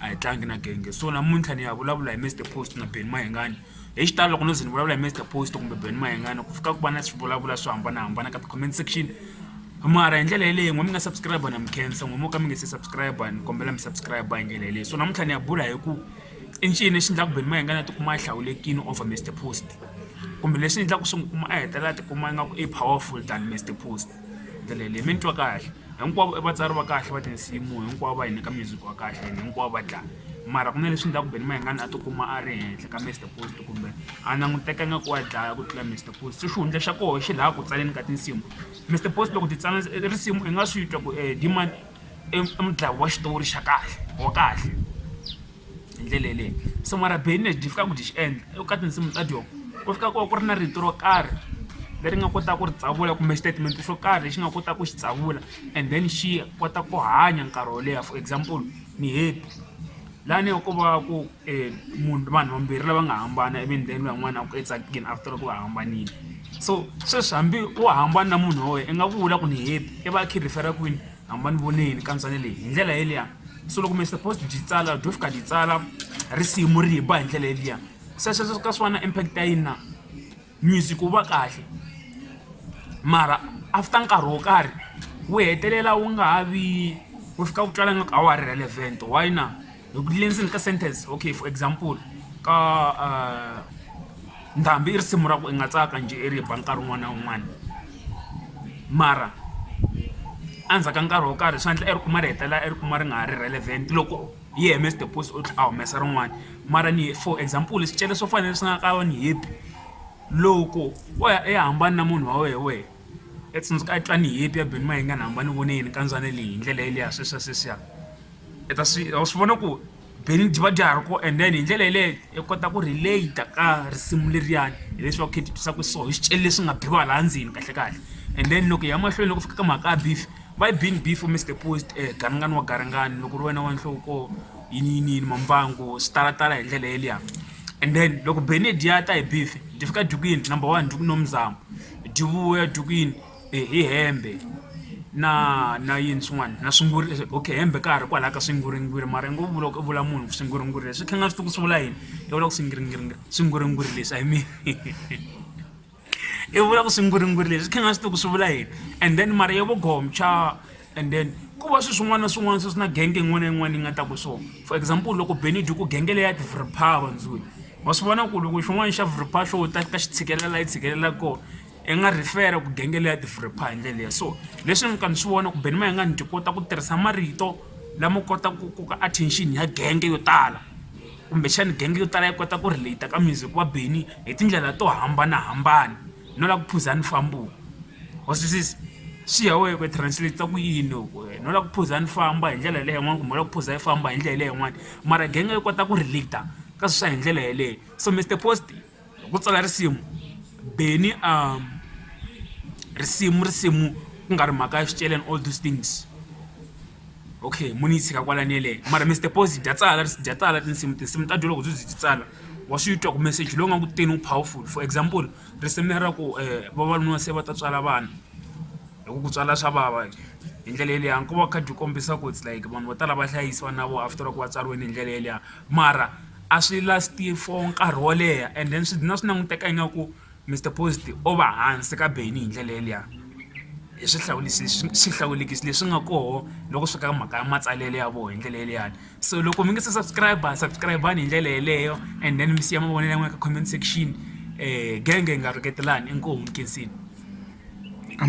a hi tlangi na genge so namuntlha ni ya vulavula hi Mister Post na Benny Mayengani hi xitalo loko no ze ni vulavula hi Mister Post kumbe Benny Mayengani ku fika ku va na swivulavula swo hambanahambana ka ti-comment section mara hi ndlela yeleyo n'we mi nga subscribe na mi khensa n'we mo ka mi nge se subscribe ni kombela mi subscribe hi ndlela yeleyo so namuntlha ni ya bula hi ku i ncini lexi endlaku Benny Mayengani a tikuma a hlawulekini over Mister Post kumbe leswi endlaku swi n'wi kuma a hetelela a tikuma ingaku i powerful than Mister Post ndlela yeleyo mi ni twa kahle. Hinkwavo i vatsari va kahle va tinsimu hinkwavo va hi nyika music wa kahle and hinkwavo va dlaya mara ku na leswi endlaku Benny Mayengani a tikuma a ri henhla ka Mister Post kumbe a languteka ingaku wa dlaya ku tlula Mister Post se xihundla xa koho xi laha ku tsaleni ka tinsimu Mister Post loko ti tsala risimu i nga swi twa ku Dee-man i mudlayi wa xitori xa kahle wa kahle. hi ndlela yeleyo so mara benny lexi dyi fikaka ku dyi xi endla i ku ka tinsimu ta dyoho ku fika ku va ku ri na rito ro karhi leri nga kota ku ri tsavula kumbe xitatimende xo karhi lexi nga kotaka ku xi tsavula and then xi kota ku hanya nkarhi wo leha for example ni happy lani ko va ku munhu vanhu vambirhi lava nga hambana ivi ni then van'wana ku etsakeni after loko va hambanile so sweswi hambi wo hambana na munhu wa wena i nga vula ku ni happy i va a kha a refer-a kwini. a ma ni voneli kantsongo leyi hi ndlela yeliya so loko mi supposed byi tsala byo fika byi tsala risimu ri ba hi ndlela yeliya se sweswo ka swi va na impact ya yini na music wu va kahle mara after nkarhi wo karhi wu hetelela wu nga ha vi wu fika wu twala ngaku a wa ha ri relevant why na. loko ti le ndzeni ka sentence okay for example ka uh, ndhambi i risimu ra ku i nga tsaka njhe i ri ba nkarhi wun'wana na wun'wana mara endzhaku ka nkarhi wo karhi swi endla i ri kuma ri hetelela i ri kuma ri nga ha ri relevant loko yi hms the post u tlhe a humesa rin'wana mara ni for example swicele swo fanele swi nga ka ni hipi loko wo ya i hambani na munhu wa wehe wehe etsundzuka a twa ni hipi ya beni ma yi nga ni hambani voneyini kandzwana leyi hi ndlela yeleya sweswiya sweswiya i ta swi wa swi vona ku beni byi va bya ha ri kona and then hi ndlela yaleyo i kota ku relate-a ka risimu leriyani hileswaku kha hi ti twisa ku so hi swicele leswi nga biwa laha ndzeni kahlekahle and then loko hi ya mahlweni loko ku fika ka mhaka ya beef why being beef u Mister Post garingani wa garingani loko ku ri wena wa nhloko yini yini yini mambangwa swi tala tala hi ndlela yeliya and then loko beni hi dya ta hi beef dyi fika edyukini number one dyi ku no muzama dyi vuya dyukini. hi hembe na na yini swin'wana na swinguri leswi okay hembe ka ha ri kwalaya ka swinguringuri mara ngo vula ku vula munhu swinguringuri leswi kha ni nga swi tivi ku swi vula yini i vula ku swingiringiri swinguringuri leswi I mean i vula ku swinguringuri leswi kha ni nga swi tivi ku swi vula yini and then mara ya vo gomcha and then ku va swi swin'wana na swin'wana swi swi na genge yin'wana na yin'wana yi nga ta ku swona for example loko beni dyi ku genge leya tivripha vandzuri wa swi vona ku loko xin'wana xa vripha xo ta ka xi tshikelela yi tshikelela kona I nga refer-a ku genge leyi ya developer hi ndlela leyi so leswi ni ka ni swi vona ku Benny Mayengani byi kota ku tirhisa marito lama kotaka ku koka attention ya genge yo tala kumbexana genge yo tala yi kota ku relate ka music wa Benny hi tindlela to hambanahambana no lava ku phuza nifambo wa swi twisisa swi ya wena ku translate ku yini loko wena no lava ku phuza ni famba hi ndlela leyi yin'wani kumbe u lava ku phuza yi famba hi ndlela leyi yin'wani mara genge yi kota ku relate ka swi swa hi ndlela yeleyo so Mister Post. hi ku tsala risimu Benny um risimu risimu ku nga ri mhaka ya swiceleni all those things okay muni yi tshika kwalani yeleyo mara Mister Pozi dya tsala dya tsala tinsimu tinsimu ta dyo loko byi byi tsala wa swi twa ku message lowu nga ku teni wu powerful for example risimu lera ku um vavanuna se va ta tswala vana hi ku ku tswala swa vava hi ndlela yeleyo nkoka wa khadi wu kombisa ku its like vanhu vo tala va hlayisiwa na vona after loko va tswariwile hi ndlela yeleyo mara. A swi last-i for nkarhi wo leha and then swi dlina swi languteka ingaku Mister Post-i o va hansi ka Benny hi ndlela yaliya hi swihlawulisi swihlawulekisi leswi nga koho loko swi fika ka mhaka ya matsalelo ya vona hi ndlela yaliyani so loko mi nga se subscribe-a subscribe-ani hi ndlela yeleyo and then mi siya mavonelo ya n'wina ka comment section genge hi nga rhuketelani inkomu nkhensiweni.